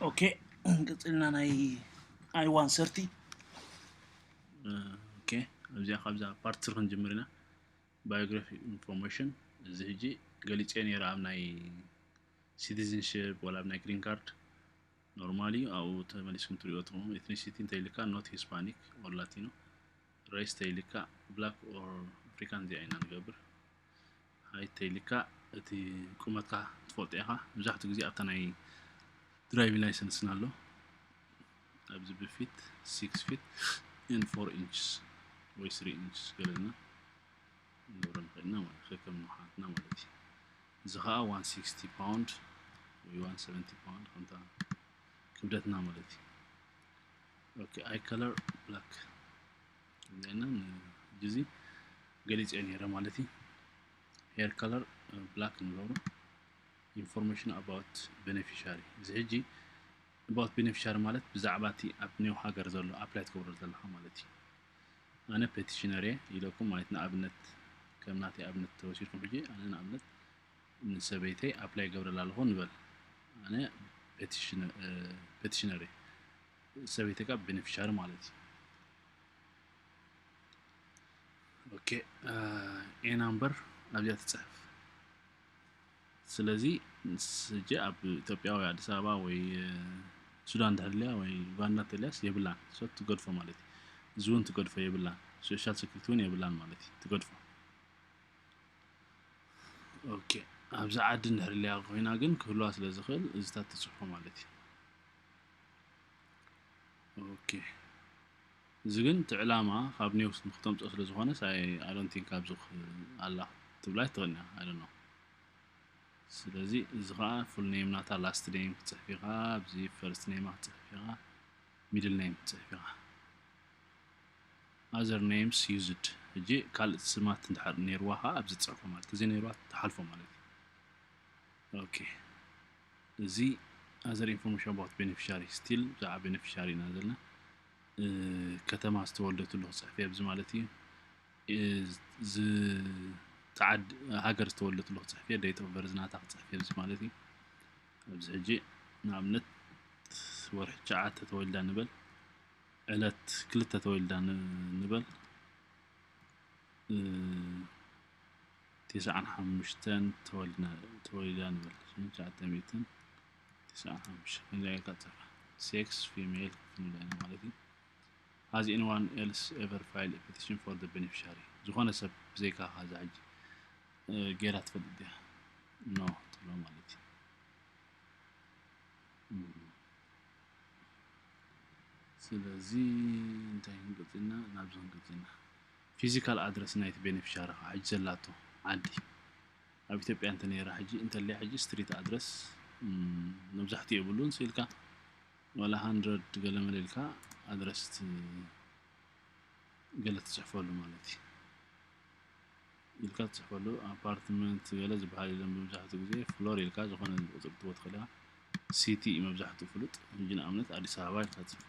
ኦኬ ቅፅልና ናይ ኣይ ዋን ሰርቲ ኦኬ እዚኣ ካብዛ ፓርት ስር ክንጅምር ኢና ባዮግራፊ ኢንፎርሜሽን እዚ ህጂ ገሊፀ ነይረ ኣብ ናይ ሲቲዝንሽፕ ወላ ኣብ ናይ ግሪን ካርድ ኖርማል እዩ ኣብኡ ተመሊስኩም ትሪኦ ትኹም ኤትኒሲቲ እንተይልካ ኖት ሂስፓኒክ ኦር ላቲኖ ሬስ ተይልካ ብላክ ኦር ኣፍሪካን እዚኣ ኢና ንገብር ሃይ ተይልካ እቲ ቁመትካ ትፈልጦ ኢካ መብዛሕትኡ ግዜ ኣብታ ናይ ድራይቪንግ ላይሰንስና ኣሎ ኣብዚ ብፊት ሲክስ ፊት ኤን ፎር ኢንችስ ወይ ስሪ ኢንችስ ገለና ንገብሮ ንኽእል ኢና ማለት ከከም ንውሓትና ማለት እዩ እዚ ከዓ ዋን ሲክስቲ ፓውንድ ወይ ዋን ሰቨንቲ ፓውንድ ከምታ ክብደትና ማለት እዩ ኦኬ ኣይ ከለር ብላክ እዚኣና ጊዜ ገሊፅ እዮ ነረ ማለት እዩ ሄር ከለር ብላክ ንገብሮ ኢንፎርሜሽን ኣባውት ቤኔፊሻሪ እዚ ሕጂ ኣባውት ቤኔፊሻሪ ማለት ብዛዕባ እቲ ኣብ ኒው ሃገር ዘሎ ኣፕላይ ትገብሮ ዘለካ ማለት እዩ ኣነ ፔቲሽነር እየ ኢለኩም ማለት ንኣብነት ከም ናተይ ኣብነት ተወሲድኩም ሕጂ ኣነ ንኣብነት ንሰበይተይ ኣፕላይ ገብረላ ኣለኹ ንበል ኣነ ፔቲሽነር እየ ሰበይተይ ካብ ቤኔፊሻሪ ማለት እዩ ኦኬ ኤ ናምበር ኣብዚኣ ትፅሕፍ ስለዚ ስጀ ኣብ ኢትዮጵያ ወይ ኣዲስ ኣበባ ወይ ሱዳን ተህልያ ወይ ዩጋንዳ ተልያስ የብላን ሶ ትገድፎ ማለት እዩ እዚ እውን ትገድፎ የብላን ሶሻል ሴኩሪቲ እውን የብላን ማለት እዩ ትገድፎ ኦኬ ኣብዚ ዓዲ እንድሕርልያ ኮይና ግን ክህልዋ ስለ ዝኽእል እዚታት ትፅሕፎ ማለት እዩ ኦኬ እዚ ግን እቲ ዕላማ ካብ ኔውስ ንክተምፅኦ ስለ ዝኾነስ ኣይ ኣይ ዶንት ቲንክ ኣብዚ ክህ- ኣላ ክትብላ ኣይትኽእልን ኢኻ ኣይ ዶንት ኖው ስለዚ እዚ ኸኣ ፉል ኔም ናታ ላስት ኔም ክትፅሕፍ ኢኻ ኣብዚ ፈርስት ኔማ ክትፅሕፍ ኢኻ ሚድል ኔም ክትፅሕፍ ኢኻ ኣዘር ኔምስ ዩዝድ ሕጂ ካልእ ስማት እንድሕር ነይርዋ ኸኣ ኣብዚ ትፅሕፎ ማለት ተዘይነይርዋ ትሓልፎ ማለት እዩ ኦኬ እዚ ኣዘር ኢንፎርሜሽን ኣባውት ቤነፊሻሪ ስቲል ብዛዕባ ቤነፊሻሪ ኢና ዘለና ከተማ ዝተወልደትሉ ክፅሕፍ እየ ማለት እዩ ዝተዓድ ሃገር ዝተወለድሉ ክፅሕፍ እየ ደይት ኦፍ በርዝ ናታ ክፅሕፍ እየ ማለት እዩ ኣብዚ ሕጂ ንኣብነት ወርሒ ትሽዓተ ተወልዳ ንበል ዕለት ክልተ ተወልዳ ንበል ትስዓን ሓሙሽተን ተወሊዳ ንበል ሽሕን ትሽዓተ ሚእትን ትስዓን ሓሙሽተን ከምዚኣ ጌርካ ትጽሕፋ sex female ክትብል ንደሊ ማለት እዩ has anyone else ever filed a petition for the beneficiary ዝኾነ ሰብ ብዘይካ ካዛ ሕጂ ጌራ ትፈልጥ ድያ ኖ ትብሎ ማለት እዩ ስለዚ እንታይ ክንቅጽልና ናብዚ ክንቅጽልና ፊዚካል ኣድረስ ናይቲ ቤነፊሻሪ ከኣ ሕጂ ዘላቶ ዓዲ ኣብ ኢትዮጵያ እንተ ነይራ ሕጂ እንተልያ ሕጂ ስትሪት ኣድረስ መብዛሕትኡ የብሉን ስኢልካ ዋላ ሃንድረድ ገለመለ ኢልካ ኣድረስ ገለ ትጽሕፈሉ ማለት እዩ ኢልካ ትጽሕፈሉ ኣፓርትመንት ገለ ዝበሃል የለን መብዛሕትኡ ግዜ ፍሎር ኢልካ ዝኾነ ቁፅሪ ትቦ ትኽእልያ ሲቲ መብዛሕትኡ ፍሉጥ ሕጂ ንኣብነት ኣዲስ ኣበባ ኢልካ ትጽሕፎ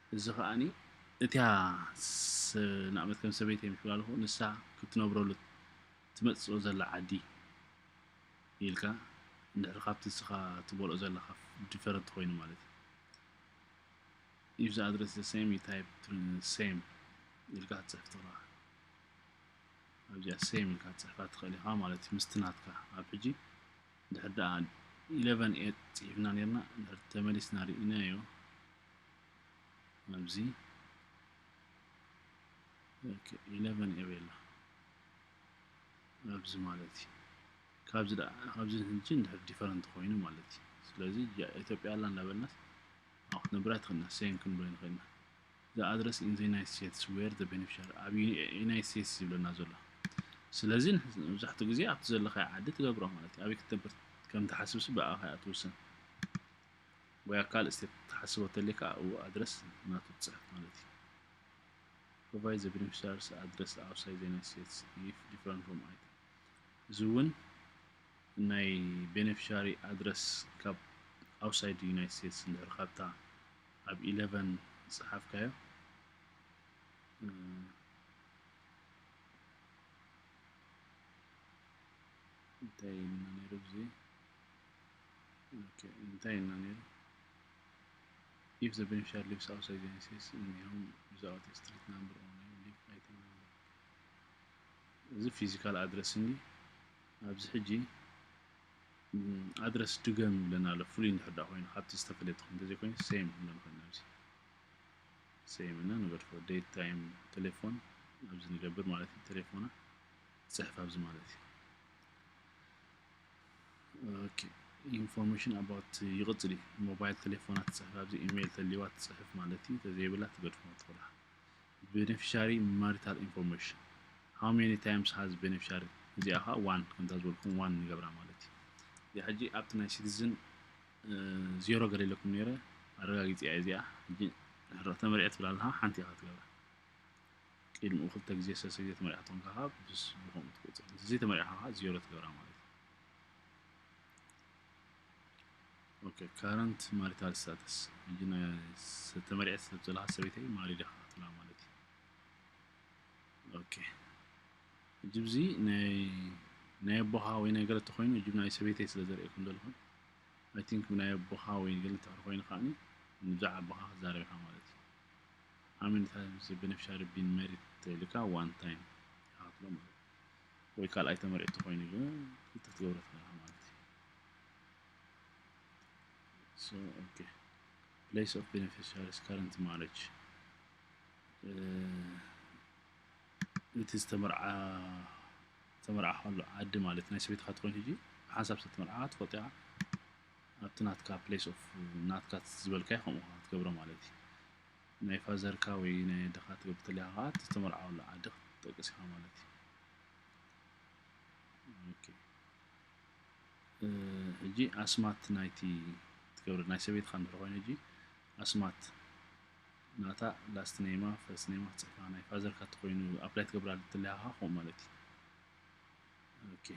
እዚ ከኣ እቲያ ንኣብነት ከም ሰበይተይ ምስ በልኩ ንሳ ክትነብረሉ ትመጽኦ ዘላ ዓዲ ኢልካ እንድሕር ካብቲ ንስኻ ትበልኦ ዘለካ ዲፈረንት ኮይኑ ማለት ኢዩ ኢፍ ዘ ኣድረስ ዘ ሰም ዩ ታይፕ ሰም ኢልካ ክትጽሕፍ ትኽእል ኣብዚኣ ሰም ኢልካ ክትጽሕፋ ትኽእል ኢኻ ማለት እዩ ምስቲ ናትካ ኣብ ሕጂ ድሕር ደኣ ኢለቨን ኤት ጽሒፍና ነርና ድሕር ተመሊስና ርኢናዮ ኣብዚ ኢለቨን ኤ ቤላ ኣብዚ ማለት እዩ ካብዚ ደኣ ካብዚ ንሕጂ እንድሕር ዲፈረንት ኮይኑ ማለት እዩ ስለዚ ኢትዮጵያ ኣላ እንዳበልናስ ኣብ ክትነብር ኣይትኽእልና ሴም ክንብል ንኽእል ኢና ዘ ኣድረስ ኢን ዘ ዩናይት ስቴትስ ዌር ዘ ቤኔፊሻሪ ኣብ ዩናይት ስቴትስ ዝብለና ዘሎ ስለዚ መብዛሕትኡ ግዜ ኣብቲ ዘለኻዮ ዓዲ ትገብሮ ማለት እዩ ኣበይ ክትነብር ከም ትሓስብሲ ብኣኻ እያ ትውስን ወይ ኣካል እስቴት ትሓስቦ ተለይ ከዓ እው ኣድረስ ናቱ ትፅሕፍ ማለት እዩ ፕሮቫይድ ዘ ቤኔፊሻርስ ኣድረስ ኣውሳይ ዘ ዩናይትድ ስቴትስ ኢፍ ዲፍረንት ፍሮም ኣይተ እዚ እውን ናይ ቤኔፊሻሪ ኣድረስ ካብ ኣውሳይድ ዩናይትድ ስቴትስ እንድሕር ካብታ ኣብ ኢለቨን ዝፀሓፍካዮ እንታይ ኢልና ነይሩ ብዚ እንታይ ኢልና ነይሩ ኢፍ ዘ ቤንፊሻሪ ሊቭስ ኣውትሳይድ ዩናይትድ ስቴትስ እኒሆም ዊዛውት ኤ ስትሪት ናምበር ኦር ኔም ሊቭ ኣይትም ናምበር እዚ ፊዚካል ኣድረስ እንዲ ኣብዚ ሕጂ ኣድረስ ድገም ይብለና ኣሎ ፍሉይ እንድሕር ዳ ኮይኑ ካብቲ ዝተፈለየ ተኾይኑ እንተዘይኮይኑ ሴም ክንብሎ ንኽእል ኣብዚ ሴም እና ንገድፎ ዴት ታይም ቴሌፎን ኣብዚ ንገብር ማለት እዩ ቴሌፎና ፅሕፍ ኣብዚ ማለት እዩ ኢንፎርሜሽን ኣባውት ይቕፅል እዩ ሞባይል ቴሌፎና ትፅሕፍ ኣብዚ ኢሜይል ተልዋ ትፅሕፍ ማለት እዩ ተዘይብላ ትገድፎ ትኽእላ ቤኔፊሻሪ ማሪታል ኢንፎርሜሽን ሃው ሜኒ ታይምስ ሃዝ ቤኔፊሻሪ እዚኣ ከዓ ዋን ከምታ ዝበልኩም ዋን ንገብራ ማለት እዩ እዚኣ ሕጂ ኣብቲ ናይ ሲቲዝን ዜሮ ገለ ኢለኩም ነይረ ኣረጋጊፂ እያ እዚኣ ሕጂ ተመሪዐ ትብላ ኣለካ ሓንቲ ኢኻ ትገብራ ቂድምኡ ክልተ ግዜ ሰለስተ ግዜ ተመሪዕካ ተኮንካ ከኣ ብስ ብከምኡ ትቅጽል እንተ ዘይተመሪዕካ ከኣ ዜሮ ትገብራ ማለት እዩ ኦኬ ካረንት ማሪታል ስታተስ ይነ ተመሪዐ ሰብ ዘለካ ሰበይተይ ማሪ ዲኻ ትብላ ማለት እዩ ኦኬ እጂ ብዚ ናይ ናይ ኣቦኻ ወይ ናይ ገለ ተኮይኑ እጂ ናይ ሰበይተይ ስለ ዘርእየኩም ዘለኹ ኣይ ቲንክ ናይ ኣቦኻ ወይ ገለ እንተ ኮይኑ ከዓኒ ብዛዕባ ኣቦኻ ክዛረብ ኢኻ ማለት እዩ ኣመንታ ምስ በነፍሻ ርቢን መሪት ተልካ ዋን ታይም ይካፍሎ ማለት እዩ ወይ ካልኣይ ተመሪዕ ተኮይኑ ግን ክልተ ክትገብሮ ትክእል ማለት እዩ so okay place of beneficiaries current marriage እቲ ዝተመርዓ ተመርዓ ከሎ ዓዲ ማለት ናይ ሰበይትካ ትኮይኑ ሕጂ ሓንሳብ ዝተመርዓ ትፈልጦ ኢካ ኣብቲ ናትካ ፕለስ ኦፍ ናትካ ዝበልካዮ ከምኡ ከኣ ክትገብሮ ማለት እዩ ናይ ፋዘርካ ወይ ናይ ኣደኻ ትገብር ተለካ ከኣ እቲ ዝተመርዓወሉ ዓዲ ክትጠቅስ ኢኻ ማለት እዩ ኦኬ ሕጂ ኣስማት ናይቲ ትገብር ናይ ሰበይትኻ እንድሕር ኮይኑ ሕጂ ኣስማት ናታ ላስት ኔማ ፈርስት ኔማ ክትፅሕፋ ናይ ፋዘርካ እተኮይኑ ኣፕላይ ትገብራ ተለካ ከምኡ ማለት እዩ ኦኬ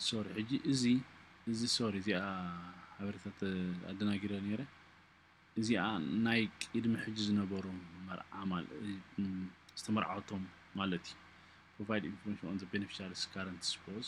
ሶሪ ሕጂ እዚ እዚ ሶሪ እዚኣ ሓበሬታት ኣደናጊረ ነይረ እዚኣ ናይ ቅድሚ ሕጂ ዝነበሩ መርዓ ዝተመርዓወቶም ማለት እዩ ፕሮቫይድ ኢንፎርሜሽን ኦን ዘ ቤኔፊሻሪስ ካረንት ስፖዝ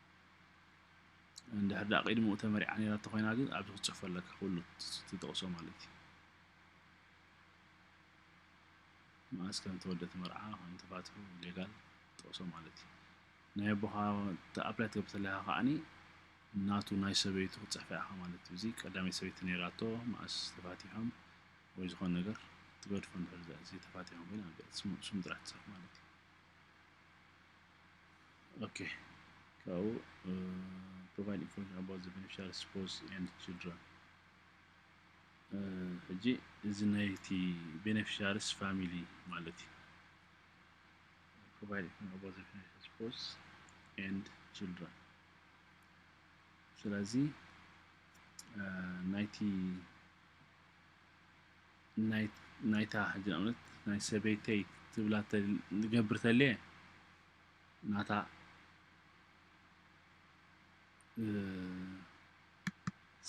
እንድሕር ደኣ ቅድሚኡ ተመሪዓ ነይራቶ ኮይና ግን ኣብዚ ክትጽሕፎ ኣለካ ኩሉ ትጠቕሶ ማለት እዩ መኣስ ከም ተወልደት መርዓ ከም ተፋትሑ ሌጋል ጠቕሶ ማለት እዩ ናይ ኣቦኻ ተኣፕላይ ትገብር ተለካ ከዓኒ ናቱ ናይ ሰበይቱ ክትጽሕፈ ኢኻ ማለት እዩ እዚ ቀዳመይ ሰበይቲ ነይራቶ መኣስ ተፋቲሖም ወይ ዝኾነ ነገር ትገድፎ እንድሕር እዚ ተፋቲሖም ኮይና ስም ጥራሕ ትጽሕፍ ማለት እዩ ኦኬ ካብኡ ፕሮቫይድ ኢንፎርሜሽን ኣባውት ዘ ቤኔፊሻሪ ስፖውስ ኤንድ ችልድረን ሕጂ እዚ ናይቲ ቤኔፊሻሪስ ፋሚሊ ማለት እዩ ፕሮቫይድ ኢንፎርሜሽን ኣባውት ዘ ቤኔፊሻሪ ስፖውስ ኤንድ ችልድረን ስለዚ ናይቲ ናይታ ጀርመን ናይ ሰበይተይ ትብላ ንገብር ተልየ ናታ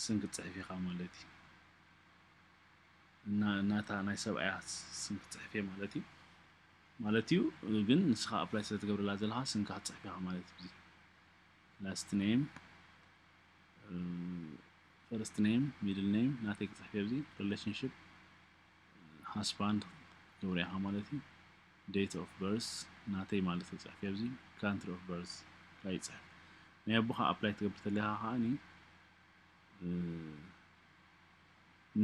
ስም ክትፅሕፍ ኢኻ ማለት እዩ እና ናታ ናይ ሰብኣያ ስም ክትፅሕፍ እየ ማለት እዩ ማለት እዩ ግን ንስኻ ኣፕላይ ስለትገብረላ ዘለኻ ስምካ ክትፅሕፍ ኢኻ ማለት እዩ ላስት ኔም ፈርስት ኔም ሚድል ኔም ናተይ ክፅሕፍ ኣብዚ ሪሌሽንሽፕ ሃስባንድ ክትገብሩ ኢኻ ማለት እዩ ዴት ኦፍ በርስ ናተይ ማለት ክፅሕፍ ኣብዚ ካንትሪ ኦፍ በርስ ካይ ፅሕፍ ናይ ኣቦኻ ኣፕላይ ትገብር ተለኻ ከዓኒ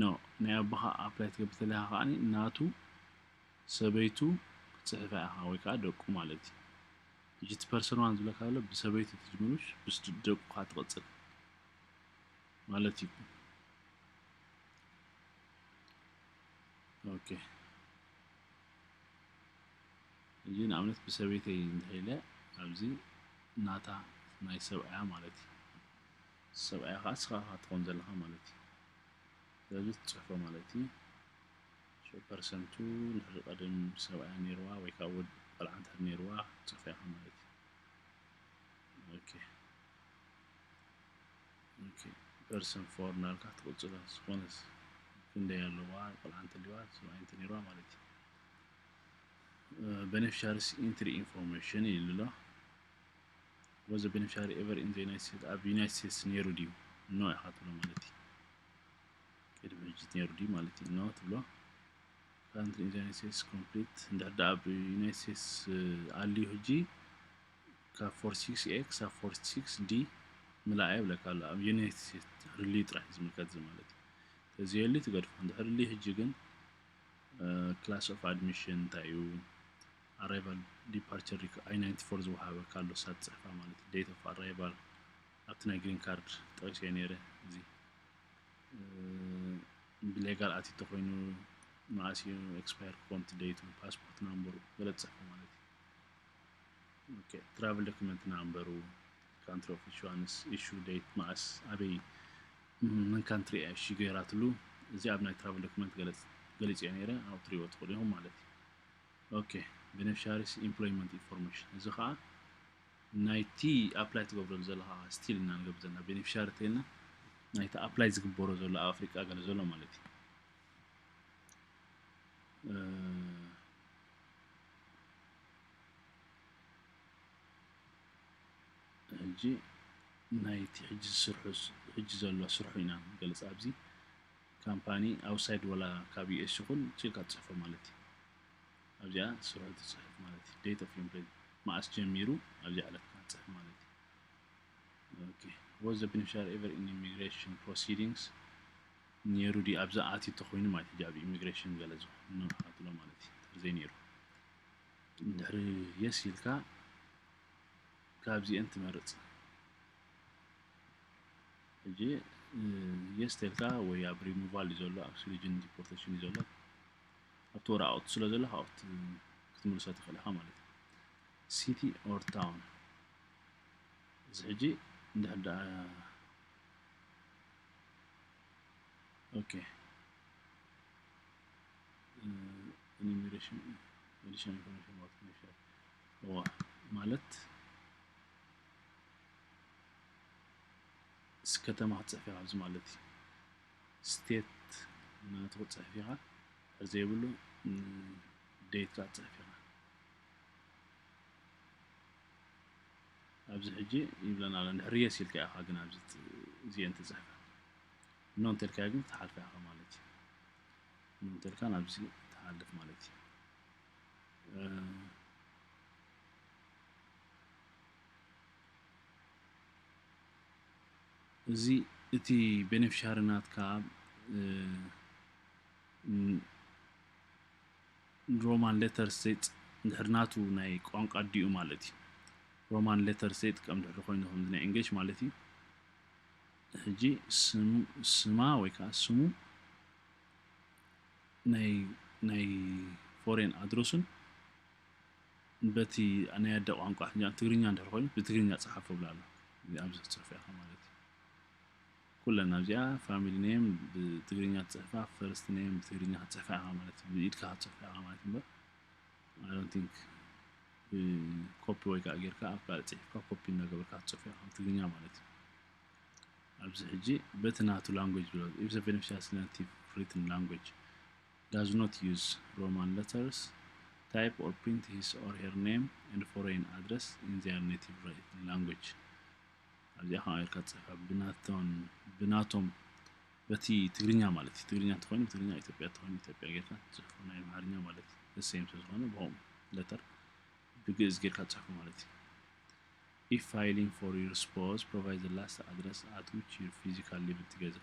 ኖ ናይ ኣቦኻ ኣፕላይ ትገብር ተለኻ ከዓኒ ናቱ ሰበይቱ ክትፅሕፍ ኢኻ ወይ ከዓ ደቁ ማለት እዩ ሕጂ እቲ ፐርሰን ዋን ዝብለካ ዘሎ ብሰበይቱ ትጅምርሽ ብስ ደቁካ ትቅጽል ማለት እዩ ኦኬ እዚ ንኣብነት ብሰበይተይ እንተኢለ ኣብዚ ናታ ናይ ሰብኣያ ማለት እዩ ሰብኣያ ከዓ ስኻ ትኾን ዘለኻ ማለት እዩ ስለዚ ትፅሕፎ ማለት እዩ ሸው ፐርሰንቱ ንሕሪ ቀደም ሰብኣያ ነይርዋ ወይ ከኣ ወድ ቆልዓ እንተድር ነይርዋ ክትጽርፎ ኢኻ ማለት እዩ ኦኬ ኦኬ ፐርሰን ፎር ናልካ ክትቅጽሎ ዝኾነስ ክንደይ ኣለዋ ቆልዓ እንተልዋ ሰብኣይ እንተነይርዋ ማለት እዩ በነፊሻሪስ ኢንትሪ ኢንፎርሜሽን ይብል ኣሎ ወዘ በነፊሻሪ ኤቨር ኢን ዘ ዩናይትድ ስቴትስ ኣብ ዩናይትድ ስቴትስ ነይሩ ድዩ ኖ ኢኻ ትብሎ ማለት እዩ ቅድሚ ሕጂ ነይሩ ድዩ ማለት እዩ ኖ ትብሎ ካንትሪ ኢን ዩናይት ስቴትስ ኮምፕሊት እንድሕር ደኣ ኣብ ዩናይት ስቴትስ ኣልዩ ሕጂ ካብ ፎር ሲክስ ኤ ክሳብ ፎር ሲክስ ዲ ምላእ የብለካ ኣሎ ኣብ ዩናይት ስቴትስ ድሕርልዩ ጥራሕ ዝምልከት እዚ ማለት እዩ ተዘየሉ ትገድፎ እንድሕርልዩ ሕጂ ግን ክላስ ኦፍ ኣድሚሽን እንታይ እዩ ኣራይቫል ዲፓርቸር ኣይ ናይንቲ ፎር ዝወሃበካ ኣሎ ሳብ ፅሕፋ ማለት እዩ ዴት ኦፍ ኣራይቫል ኣብቲ ናይ ግሪን ካርድ ጠቂሰዮ ነይረ እዚ ብሌጋል ኣቲ ተኮይኑ መዓስ እዩ ኤክስፓየር ክኮን ደይቱ ፓስፖርት ናምበሩ ገለ ትፅሕፉ ማለት እዩ ኦኬ ትራቭል ዶክመንት ናምበሩ ካንትሪ ኦፍ ኢሹዋንስ ኢሹ ደይት መዓስ ኣበይ ምን ካንትሪ እያ እሺ ገይራትሉ እዚ ኣብ ናይ ትራቭል ዶክመንት ገሊፅዮ ነይረ ኣብ ትሪእዎ ትኽእሉ ኢኹም ማለት እዩ ኦኬ ቤኔፊሻሪስ ኢምፕሎይመንት ኢንፎርሜሽን እዚ ከዓ ናይቲ ኣፕላይ ትገብረሉ ዘለኻ ስቲል እና ንገብር ዘለና ቤኔፊሻሪ ተይልና ናይቲ ኣፕላይ ዝግበሮ ዘሎ ኣብ ኣፍሪቃ ገለ ዘሎ ማለት እዩ ሕጂ ናይቲ ሕጂ ዝስርሑ ሕጂ ዘሎ ስርሑ ኢና ንገልፅ ኣብዚ ካምፓኒ ኣውሳይድ ወላ ካብ ዩኤስ ይኹን ጭቃ ትፅሕፎ ማለት እዩ ኣብዚኣ ትስርሑ እቲ ጽሑፍ ማለት እዩ date of impre መኣስ ጀሚሩ ኣብዚኣ ዕለት ክትጽሕፍ ማለት እዩ okay was the beneficiary ever in immigration proceedings ነይሩ ድዩ ኣብዛ ኣትዩ ተኾይኑ ማለት እዩ ኣብ ኢሚግሬሽን ገለ ዝኾነ ንኣትሎ ማለት እዩ እንተ ዘይነይሩ ድሕሪ የስ ኢልካ ካብዚአን ትመርጽ ሕጂ የስ ተልካ ወይ ኣብ ሪሙቫል እዩ ዘሎ ኣብ ስሪጅን ዲፖርቴሽን እዩ ዘሎ ኣብቲ ወረቓቕቱ ስለ ዘሎ ካብኡ ክትምልሶ ትኽእል ኢኻ ማለት እዩ ሲቲ ኦር ታውን እዚ ሕጂ እንድሕር ደኣ ኦኬ ኢኒሜሬሽን ኤዲሽን ኢንፎርሜሽን ዋት ሜሸር እዋ ማለት ከተማ ክትፅሕፍ ኢኻ ኣብዚ ማለት እዩ ስቴት ናቱ ክትፅሕፍ ኢኻ እንድሕር ዘይብሉ ዴት ክትፅሕፍ ኢኻ ኣብዚ ሕጂ ይብለና ኣሎ እንድሕር የስ ኢልካ ኢኻ ግን ኣብዚ እዚአን ትፅሕፈ እኖ እንተልካዮ ግን ትሓልፈ ኢኻ ማለት እዩ እኖ እንተልካ ናብዚ ትሓልፍ ማለት እዩ እዚ እቲ ቤነፍሻሪ ናትካ ሮማን ሌተር ሴጥ ድሕሪ ናቱ ናይ ቋንቋ ዲኡ ማለት እዩ ሮማን ሌተር ሴጥ ከም ድሕሪ ኮይኑ ከምዚ ናይ እንግሊሽ ማለት እዩ ሕጂ ስማ ወይ ከዓ ስሙ ናይ ናይ ፎሬን ኣድረሱን በቲ ናይ ኣደ ቋንቋ ሕጂ ትግርኛ እንድሕር ኮይኑ ብትግርኛ ጸሓፎ ይብላ ኣሎ እዚ ኣብዚ ክትጽሕፎ ኢኻ ማለት እዩ ኩለን ኣብዚኣ ፋሚሊ ኔም ብትግርኛ ትጽሕፋ ፈርስት ኔም ብትግርኛ ክትጽሕፋ ኢኻ ማለት እዩ ብኢድካ ክትጽሕፋ ኢኻ ማለት እምበር ኣይ ዶንት ቲንክ ኮፒ ወይ ከዓ ጌርካ ኣብ ካልእ ጽሒፍካ ኮፒ እናገበርካ ክትጽሕፋ ኢኻ ብትግርኛ ማለት እዩ ኣብዚ ሕጂ በቲ ናቱ ላንጉጅ ብሎ ኢብሰ ቤኔፊሻስ ቲቭ ፍሪትን ላንጉጅ ዳዝ ኖት ዩዝ ሮማን ለተርስ፣ ታይፕ ኦር ፕሪንት ሂስ ኦር ሄር ኔም ኤንድ ፎረይን ኣድረስ ኢን ዜር ኔቲቭ ላንጉጅ። ኣብዚኣ ከምኣ ጌርካ ትጽሕፋ ብናቶን ብናቶም በቲ ትግርኛ ማለት እዩ ትግርኛ እንተኾይኑ ትግርኛ ኢትዮጵያ እንተኾይኑ ኢትዮጵያ ጌርካ ትጽሕፎ ናይ ኣምሓርኛ ማለት ዘሰየም ስለ ዝኾነ ብኦም ለተር ብግእዝ ጌርካ ትጽሕፎ ማለት እዩ if filing for your spouse provide the last address at which your physical living together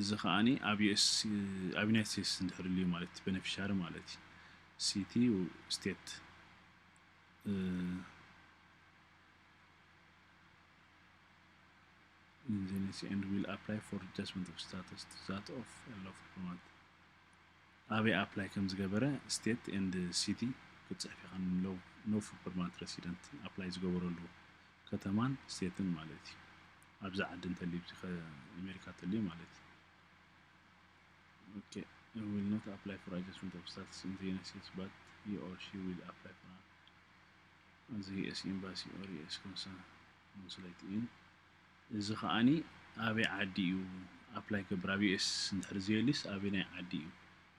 እዚ ከኣ ኣብ ዩናይትድ ስቴትስ እንድሕር ኣልዩ ማለት እቲ በነፊሻሪ ማለት እዩ ሲቲ ስቴት ኢንዚኒስ ኤንድ ዊል ኣፕላይ ፎር ጃጅመንት ኦፍ ስታተስ ዛት ኦፍ ሎፍ ፕሮማት ኣበይ ኣፕላይ ከም ዝገበረ ስቴት ኤንድ ሲቲ ክትፅሕፍ ኢኻ ንለው ኖፍ ፐርማንት ረሲደንት ኣፕላይ ዝገበረሉ ከተማን ስቴትን ማለት እዩ ኣብዚ ዓዲ እንተልዩ ኣብዚኸ ኣሜሪካ እንተልዩ ማለት ኦኬ ዊል ኖት ኣፕላይ ፎር ኣጀስትመንት ኦፍ ስታትስ ኢን ዘ ዩናይትድ ስቴትስ ባት ሂ ኦር ሺ ዊል ኣፕላይ ፎር ኣን ዘ ዩኤስ ኤምባሲ ኦር ዩኤስ ኮንሱሌት ኢን እዚ ከዓኒ ኣበይ ዓዲ እዩ ኣፕላይ ገብር ኣብ ዩኤስ እንድሕር ዘየልዩስ ኣበይ ናይ ዓዲ እዩ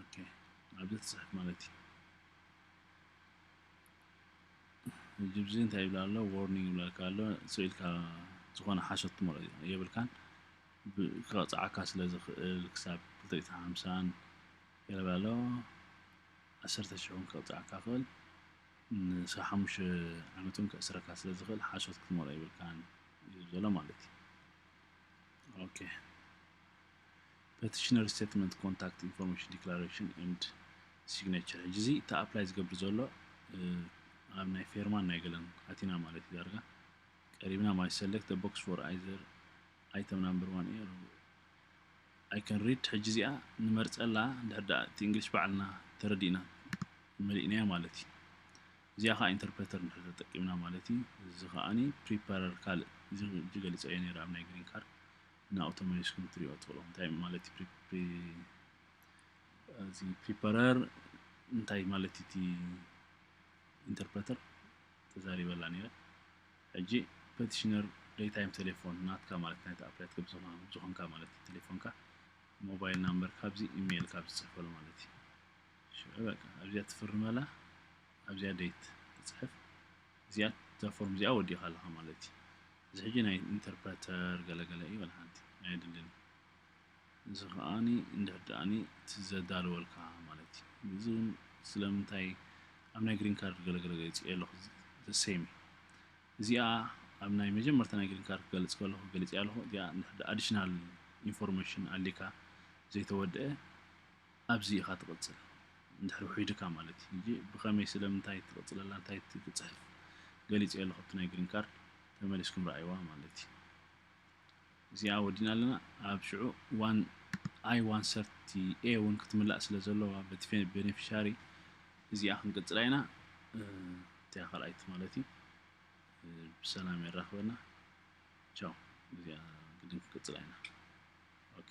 ኦኬ ኣብዚ ትጽሕፍ ማለት እዩ ጅብዚ እንታይ ይብላ ኣሎ ዎርኒንግ ይብላልካ ኣሎ ስኢልካ ዝኾነ ሓሶት ትመርኦ የብልካን ክቐፅዓካ ስለ ዝኽእል ክሳብ ክልተ ሓምሳን ይብል ኣሎ ዓሰርተ ሽሕን ክቐፅዓካ ክእል ንሳ ሓሙሽተ ዓመት እውን ከእስረካ ስለ ዝኽእል ሓሶት ክትመርኦ የብልካን እዩ ዘሎ ማለት እዩ ኦኬ ፐቲሽነር ስቴትመንት ኮንታክት ኢንፎርሜሽን ዲክላሬሽን ኤንድ ሲግነቸር ሕጂ እዚ እቲ ኣፕላይ ዝገብር ዘሎ ኣብ ናይ ፌርማን ናይ ገለን ኣቲና ማለት እዩ ዳርጋ ቀሪብና ማይ ሰለክት ቦክስ ፎር ኣይዘር ኣይተም ናምበር ዋን ኤር ኣይ ከን ሪድ ሕጂ እዚኣ ንመርፀላ እንድሕር ደኣ እቲ እንግሊሽ ባዕልና ተረዲእና መሊእናያ ማለት እዩ እዚኣ ከዓ ኢንተርፕሬተር እንድሕር ተጠቂምና ማለት እዩ እዚ ከዓኒ ፕሪፓረር ካልእ እዚ ገሊፀ እየ ነይረ ኣብ ናይ ግሪን ካርድ ንኣውቶሜሽን ክትሪኦ ትኽእሎ እንታይ ማለት እዚ ፕሪፐረር እንታይ ማለት እቲ ኢንተርፕረተር ተዛሪበላ ነይረ ሕጂ ፐቲሽነር ደይታይም ቴሌፎን ናትካ ማለት ናይቲ ኣፕላይ ዝኾንካ ማለት እዩ ቴሌፎንካ ሞባይል ናምበር ካብዚ ኢሜይል ካብ ዝፅሕፈሉ ማለት እዩ ሽዑ በቃ ኣብዚኣ ትፍርመላ ኣብዚኣ ደይት ትፅሕፍ እዚኣ እዛ ፎርም እዚኣ ወዲኻ ኣለኻ ማለት እዩ እዚ ሕጂ ናይ ኢንተርፕረተር ገለ ገለ እዩ በል ሓንቲ ኣየድልን እዚ ከኣኒ እንድሕር ደኣኒ እቲ ዘዳልወልካ ማለት እዩ እዚ እውን ስለምንታይ ኣብ ናይ ግሪን ካርድ ገለ ገለ ገሊጽ ኣለኹ ዘሰይም እዚኣ ኣብ ናይ መጀመርታ ናይ ግሪን ካርድ ክገልጽ ከለኹ ገሊጽ ኣለኹ እዚኣ እንድሕር ኣዲሽናል ኢንፎርሜሽን ኣሊካ ዘይተወድአ ኣብዚ ኢኻ ትቕጽል እንድሕሪ ውሑጅ ድካ ማለት እዩ ጂጂ ብከመይ ስለምንታይ ትቕጽለላ እንታይ ትጽሕፍ ገሊጸዮ ኣለኹ ኣብቲ ናይ ግሪን ካርድ ተመሊስኩም ረኣይዋ ማለት እዩ እዚኣ ወዲእና ኣለና ኣብ ሽዑ ዋን ኣይ ዋን ሰርቲ ኤ ውን ክትምላእ ስለ ዘለዋ በቲ ቤኔፊሻሪ እዚኣ ክንቅጽላ ኢና እቲያ ካልኣይቲ ማለት እዩ ብሰላም የራኽበና ቻው እዚኣ ግድን ክንቅጽላ ኢና ኦኬ